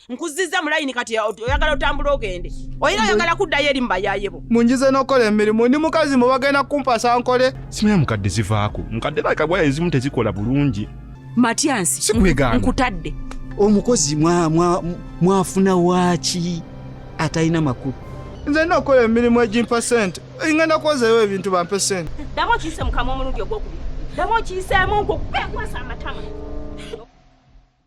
nkuzizza mu layini kati oyagala otambula ogende oyina oyagala kuddayo eri mubayayebo munjize nokola emirimu ndi mukazi mu bagenda kumpasa nkole simanya mukadde zivaako mukadde bakabwa ezimu tezikola bulungi matyansi sikwegaana nkutadde omukozi mwafuna waaki atalina makulu nze nina okukola emirimu egimpa sente ngenda kwozayo ebintu bampe sente ddamu okiyise mukamwa omulundi ogwokubiri ddamu okiyiseemu nkukupekwasa amatama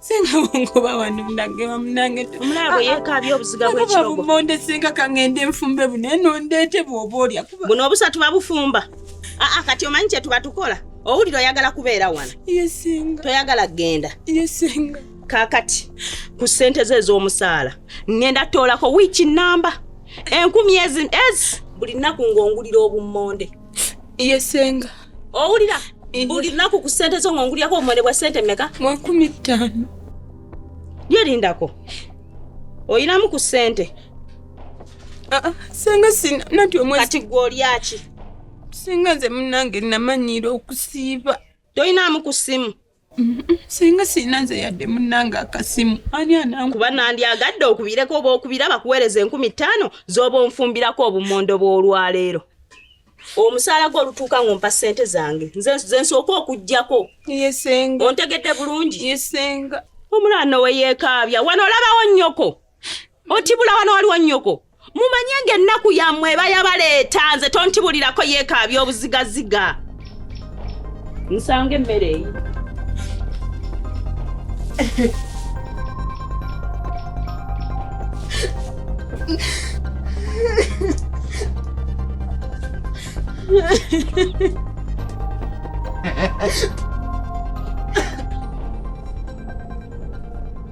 singa bongoba wano munange bamunange omulabo ah, ah. yekaabye obuziga bwekirogomonde singa kangende nfumbe buno eno ndeete bwoba olya buno obusa tuba bufumba aa ah, kati omanyi kyetuba tukola owulira oyagala kubeera wano toyagala kugenda kakati ku ssente ze ez'omusaala ngenda toolako wiiki namba enkumi ezi buli nnaku ng'ongulira obummonde yesenga owulira buli lunaku ku ssente zo ng'ongulyako obumone bwa ssente meka makumi ttaano lyerindako oyinamu ku ssente ah, ah, senga sina nati omwe kati gwe olyaki senga nze munange namanyiira okusiiba toyinaamu ku ssimu singa sirina nze yadde munnange akasimu ani anangu kuba nandyagadde okubireko oba okubira bakuweereza enkumi ttaano z'oba onfumbirako obumondo bw'olwaleero omusaala gwe olutuuka ng'ompa ssente zange nze nsooka okuggyako yesenga ontegedde bulungi yesenga omulaano we yeekaabya wano olabawo nnyoko otibula wano waliwo nnyoko mumanye nga ennaku yammwe eba yabaleeta nze tontibulirako yeekaabya obuzigaziga nsanga emmere eyi Ha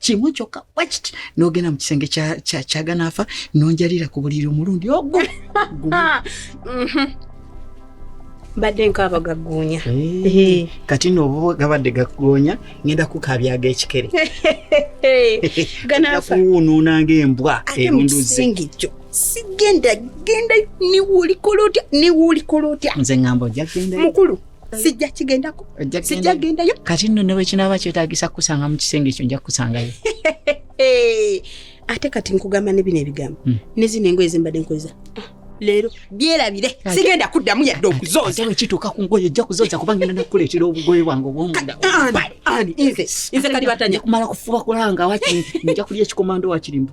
kimu kyokka bwekiti n'ogenda mu kisenge kyaganaafa nonjalira ku buliri omulundi ogu mhm. mbadde nkaaba gaggoonya kati nooba gabadde gaggoonya ngenda kukabyaga ekikere kuwunuunanga embwa erunduzi kyo sigenda genda niwulikola otya niwulikola otya nze ngamba ojja genda mukulu sijja kigendako sijja gendayo kati nno newe kinaaba kyetagisa kukusanga mu kisenge ekyo nja kukusangayo ate kati nkugamba ne bino ebigambo hmm. ne zino engoye zembadde nkozesa ah, leero byerabire sigenda kuddamu yadde okuzooza ewe kituuka ku ngoye ojja kuzooza kuba ngenda nakukuleetera obugoye bwange obwomundaani nze kati batanya kumala kufuba kulanga wakiri nja kulya ekikomando wakirimbu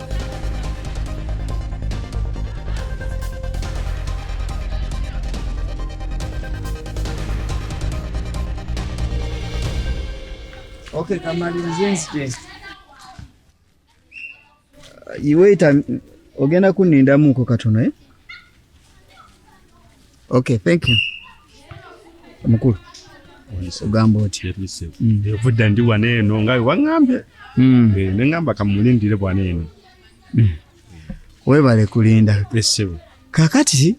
Okay, kamali mzinzi je. Iwe ita ogenda kuninda muko katono eh? Okay, thank you. Mukulu. Ogamba otya? Mm. Evudda ndi wano eno nga wangambye. Mm. Eh, ne ngamba kamulindire bwana eno. Mm. Webale kulinda. Esebo. Kakati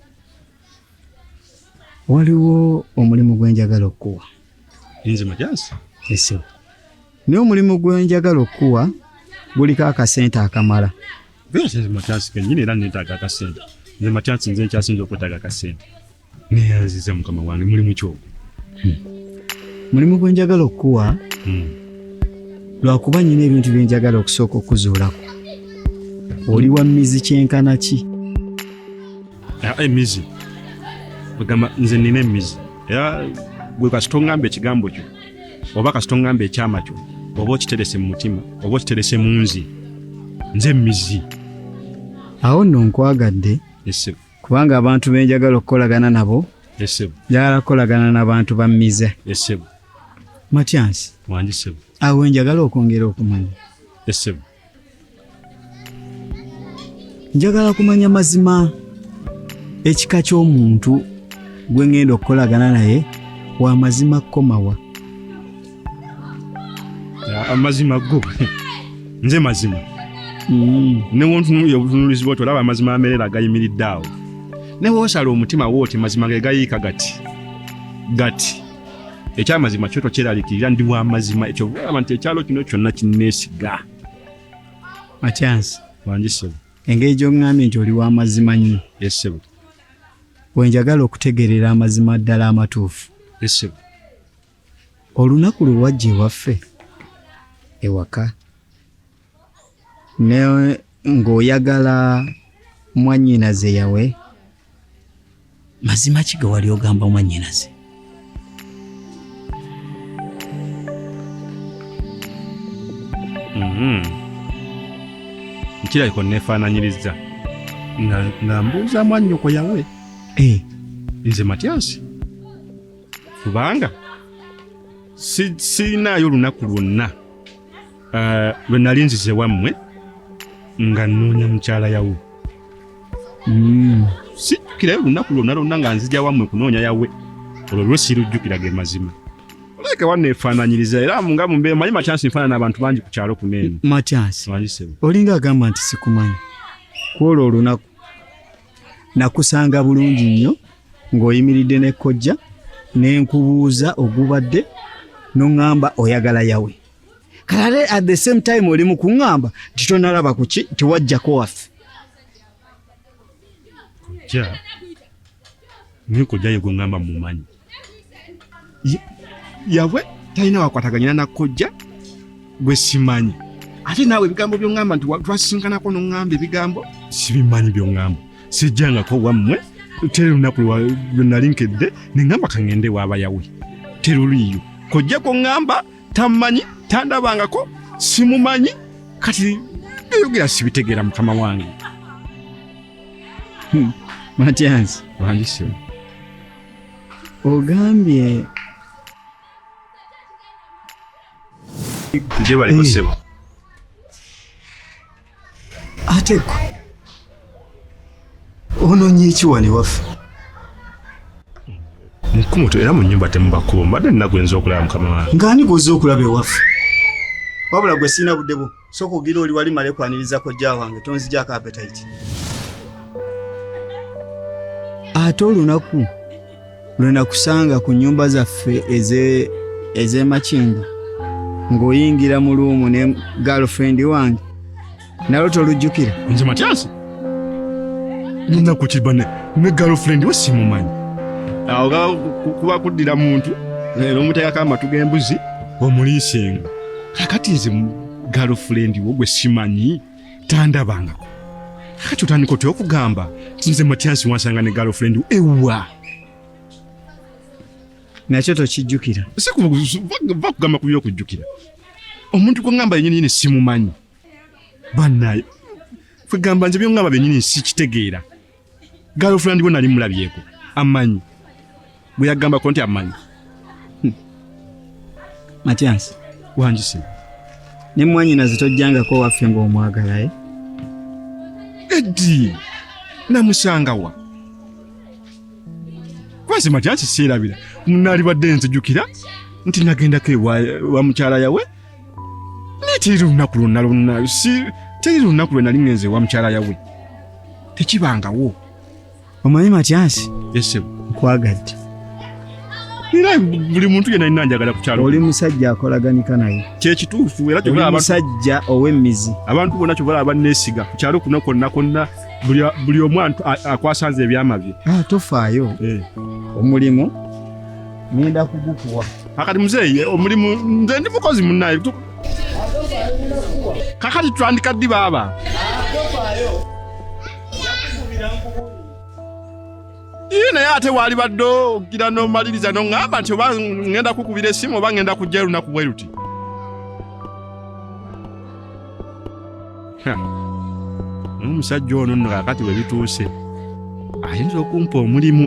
waliwo omulimu gwenjagala okukuwa. Inze majansi. Esebo. Naye omulimu gwenjagala okukuwa guliko akasente akamala. Nze Mathias kenyini era neetaaga akasente. Nze Mathias nze nkyasinze okwetaaga akasente. Neeyanziza mukama wange mulimu ki ogwo? Hmm. Mulimu gwe njagala okukuwa hmm. lwakuba nyina ebintu bye njagala okusooka okuzuulako. Oli wa mmizi kyenkana ki? Ah, emmizi ogamba nze nina emmizi era gwe kasita ongamba ekigambo kyo oba kasita ongamba ekyama kyo oba okiterese mu mutima oba okiterese mu nzi nze mizi awo nno nkwagadde kubanga abantu benjagala okukolagana nabo njagala kukolagana nabantu ba mize matyansi awo njagala okwongera okumanya njagala kumanya mazima ekika ky'omuntu gwe ŋŋenda okukolagana naye wa mazima kukomawa amazima go nze mazima mm. newontunuya obutunulizi bwoti olaba amazima amerera agayimiridde awo newoosala omutima wooti mazima ge gayiika gati gati ekyamazima kyo tokyeralikirira ndi wamazima ekyo olaba nti ekyalo kino kyonna kinneesiga makyansi wangi ssebo engeri gy'oŋŋambye nti oli wamazima nnyo esebo we njagala okutegeerera amazima ddala amatuufu esebo olunaku lwe wajja ewaffe ewaka ne ng'oyagala mwannyinaze yawe mazima ki ge wali ogamba mwannyinaze mhm. nkirabika onneefaananyirizza nga mbuuza mwannyoko yawe eh. nze matyansi kubanga sirinaayo olunaku lwonna Eh, lwe nali nzize wammwe nga nnoonya mukyala yawe hmm. sijjukirayo olunaku lwonna lwonna nga nzija wammwe kunoonya yawe olwo lwe sirujjukira ge mazima oleke wanneefaananyiriza era nga mumbeera manyi matyansi nfaanana abantu bangi ku kyalo kuneeno matyansi olinga agamba nti sikumanyi kwolwo olunaku nakusanga bulungi nnyo ng'oyimiridde ne kojja ne nkubuuza ogubadde n'oŋŋamba oyagala yawe kale at the same time oli mu kuŋŋamba nti tonalaba ku ki tewajjako waffe kujja naye kujja ye gweŋŋamba mumanyi yabwe talina wakwataganyina nakojja gwe simanyi ate naawe ebigambo byoŋŋamba nti twasinkanako noŋŋamba ebigambo sibimanyi byoŋŋamba sijjangako wammwe teri lunaku lwenali nkedde neŋŋamba kaŋŋende waabayawe teruliiyo kojja kuŋŋamba tammanyi tandabangako simumanyi kati byeyogera sibitegeera mukama wange hmm, matyanzi wandisi ogambye nje baliko eh. sebo ate gwe ononye eki wano ewaffe mukumutu era mu nyumba temubakubo mbadde nnaku enza okulaba mukama wange ngaani gwoza okulaba ewaffe wabula gwe sirina budde bwo soka ogira oli wali male kwaniriza kojja wange tonzijako apetayiti ate olunaku lwe nakusanga ku nnyumba zaffe ez'emakindi ng'oyingira mu luumu ne girlfriend wange nalo tolujjukira nze matyasi ninakukiba ne girlfriend we simumanyi awo ga kuba kuddira muntu leero omuteekako amatu g'embuzi omuliisenga kakati nze girlfriend wo gwe simanyi tandabangako kati otandika otya okugamba nze matiyasi wansanga ne galofrendi ewa nakyo tokijjukira sikugamba ku byokujjukira omuntu gwengamba yenyininyini simumanyi banaye kwegamba nze byongamba byenyini sikitegeera girlfriend we nali mulabyeko amanyi bwe yagamba ko nti amanyi hmm. Matias wanjise ne mwanyina zitojjangako waffe ng'omwagala e eddi namusangawa kwansi Matias seerabira munaalibadde nzijukira nti nagendako ewa mukyala yawe naye teri lunaku lwonna lwonna si teri lunaku lwe nali ngenze ewa mukyala yawe tekibangawo omanyi matyansi esebo nkwagadde era buli muntu yena nina njagala kukyalo oli musajja akolaganika naye kyekituufu era kyobala musajja ow'emmizi abantu bona kyobala abanneesiga kukyalo kuno konna konna buli omu akwasanze ebyama bye ah, tofaayo eh. omulimu ngenda kugukuwa kakati muzeeyi eh, omulimu nze ndi mukozi munaye kakati twandika ddi baaba ii naye ate waali badde ogira nomaliriza noŋŋamba nti oba ŋŋenda kukubira essimu oba ŋŋenda kujja erunaku bwe luti n'omusajja ono nno kakati bwe bituuse ayinza okumpa omulimu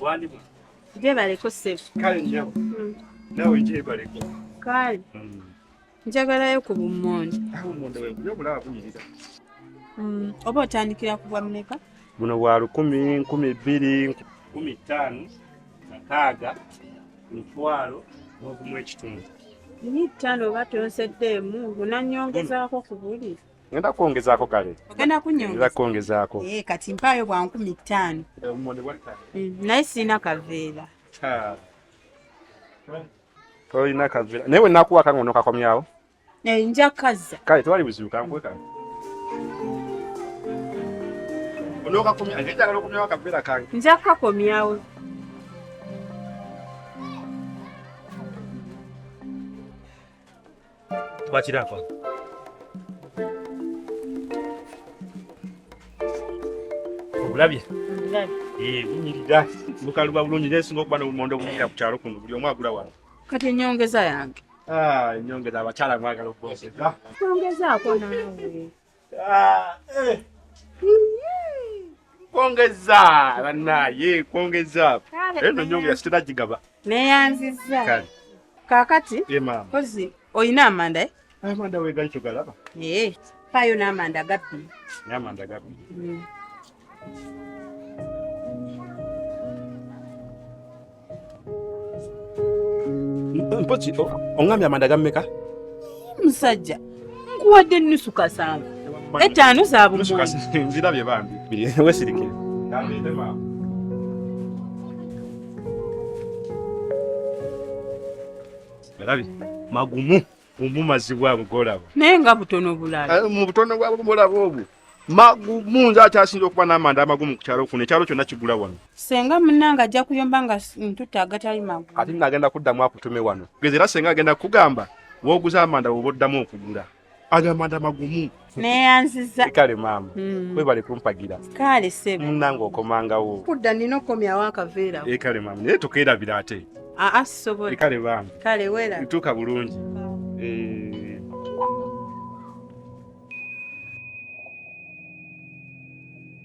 Walimu. Jebaleko ssebo. Kale njabo. Mm. Nawe jebaleko. Kale. Mm. Njagalayo ku bummonde. Awo mmonde we kuyo bulaba buyirira. Mm. Oba otandikira ku bwa mmeka? Buno bwa lukumi, nkumi bbiri, nkumi ttaano, nkaaga. mutwalo n'ogumu ekitundu ni ttaano oba tonseddeemu unannyongezaako ku buli ngenda kwongezaako kale ogenda kunyongeza kwongezaako eh, kati mpaayo bwa nkumi ttaano eh, mm, naye sirina kaveera tolina kaveera naye wenakuwaka nga onokakomyawo Eh, nja kazza. Kale tewali buzibu kankuwe kano. Onookakomya, ate njagala okomyawo akaveera kange. Nja kukakomyawo. Twakirako. Obulabye? Obulabye. Ee, eh, bunyirira. Bukaluba bulungi, nesinga okuba n'obumondo obunyirira ku kyalo kuno, buli omu agula wano. Kati enyongeza yange. Ah, enyongeza abakyala mwagala okubongeza. Kwongezaako naawe. Ah, eh. Kwongeza banaye kwongeza. Eno nyongeza sitera gigaba. Neyanziza. Kati. Kakati. Ye eh, mama. Kozi oyina amanda eh? Amanda wegali kyogalaba. Eh. Payo n'amanda gabbi. N'amanda gabbi. Mm. mpozi oŋŋambye amanda gammeka musajja nkuwadde ennusu kasanga ettaano za bumwonzirabye bambi wesirike erabi magumu omumazibwa ago golaba naye nga butono bulala eh, mu butono bwabwo golaba obwo munze akyasinza okuba n'amanda amagumu ku kyalo kuno ekyalo kyonna kigula wano senga munange ajja kuyomba nga ntutte agatali magu ate nagenda kuddamu akutume wano geza era senga agenda kukugamba wooguza amanda woba oddamu okugula agamanda magumu neyanziza kale maama mm. webale kumpagira kale sebo munange okomangawo kudda nina okukomyawo akaveera e eh, kale maama naye tukeerabira ate aa ah, ah, sisobola e kale bambi kale wera ntuuka bulungi eh.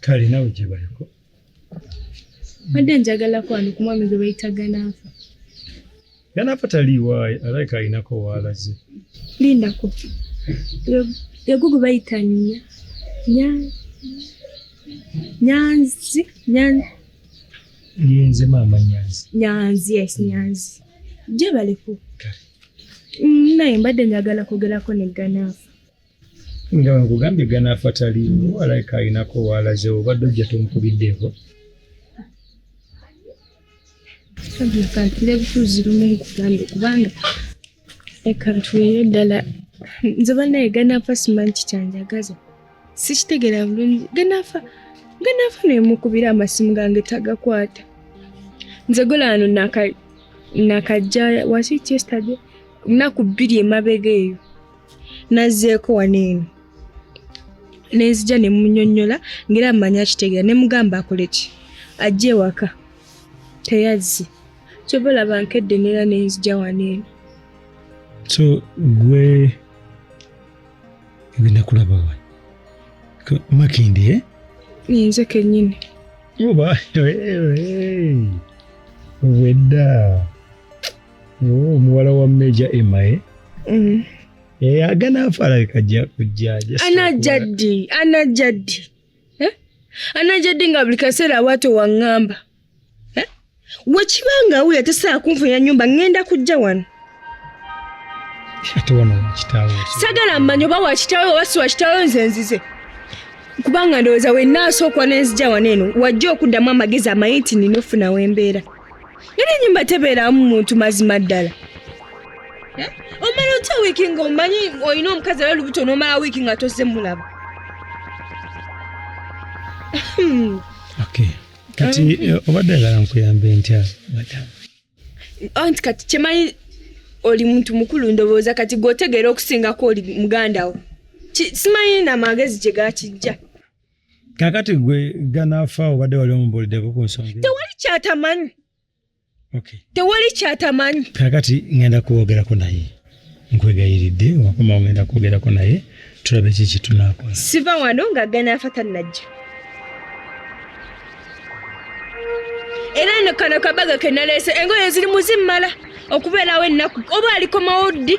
kale nawe gyebaliko mbadde njagala kwano ku mwami gwe bayita ganaafa ganaafa taliiwaayo alabika alinako waalaze lindako yego gwe bayita nya nya nyanzi nyanzi yenze maama nyanzi nyanzi yes nyanzi gyebaliko mm, naye mbadde njagala kwogerako ne ganaafa nga nkugambye ganaafa taliimu alaika alinako waalaze obadde ojja tomukubiddeeko kantire butuuzi lumu nkugambe kubanga ekantuweeyo ddala nze banaye ganaafa simanyi kikyanjagaza sikitegera bulungi ganaafa ganaafa nemukubira amasimu gange tagakwata nze golano nakajja wasi yesterday lunaku bbiri emabega eyo nazzeeko wano eno ne nzija ne munyonnyola ng'era mmanyi akitegeera ne mugamba akole ki ajja ewaka teyazze kyova olaba nkedde neera ne nzija wano eno so gwe ogenda kulaba wa makindi e eh? nze kennyini oba wedda Oh, omuwala wa meja emae mm. eh, aganaafa alabika ajja kujja anajja ddi anajja ddi eh? anajja ddi nga buli kaseera awaate waŋŋamba eh? wekiba nga wuyo atesaa kunfunya nyumba ŋŋenda kujja wano ate wano kitaawo sagala mmanyi oba wakitaawo oba si wakitaawo nze nzize kubanga ndowooza wenna asookuwa nenzija wano eno wajja okuddamu amagezi amanyi nti nina ofuna wembeera Era enyumba tebeeramu muntu mazima ddala. Eh? Omala otya wiiki nga omanyi olina omukazi era olubuto n'omala wiiki nga tozze mulaba. Hmm. Okay. Kati eh, obadde agala nkuyambe ntya madamu? Anti oh, kati kyemanyi oli muntu mukulu ndowooza kati gw'otegeera okusingako oli muganda wo. Simanyi na magezi gye gakijja. kakati gwe ganafa obadde wali omubuulideko ku nsonga tewali kyatamanyi tewali kyatamanyi kakati ngenda kuwogerako naye nkwegayiridde wakoma ngenda kwogerako naye tulabe ki kitunakola siva wano nga ganafa tanajja era no kano kabaga kenaleese engoye ziri muzimmala okubeerawo ennaku oba alikomawo ddi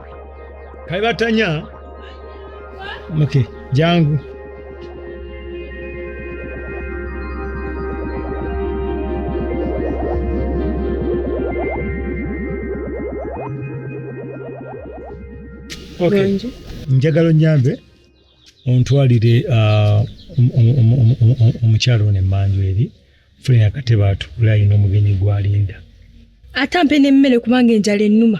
kaibatanya okay jangu okay. njagala onyambe ontwalire uh, omukyalo ono emmanju eri fulina akatebe atuula alina omugenyi gwalinda ate ampe n'emmere kubanga enjala ennuma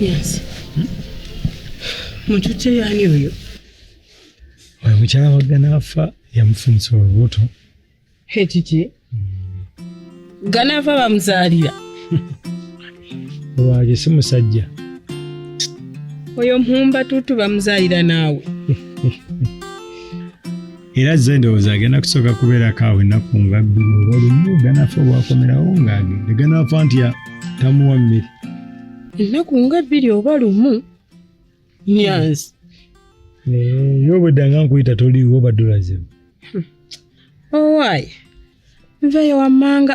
Yes. Mutute yani oyo? Oyo mukyala waggana afa yamufunisa olubuto. Ekiki? Ggana afa bamuzaalira. Lwaki si musajja? Oyo mpumba tutu bamuzaalira naawe. era zze endowooza agenda kusooka kubeerako awo ennaku nga bbiri oba lumu ganafa obwakomerawo ng'agende ganafa nti tamuwa mmere ennaku nga bbiri oba lumu nyanzi yo obwedda nga nkuyita toliiwo badulazimu owaayi nveyo wammanga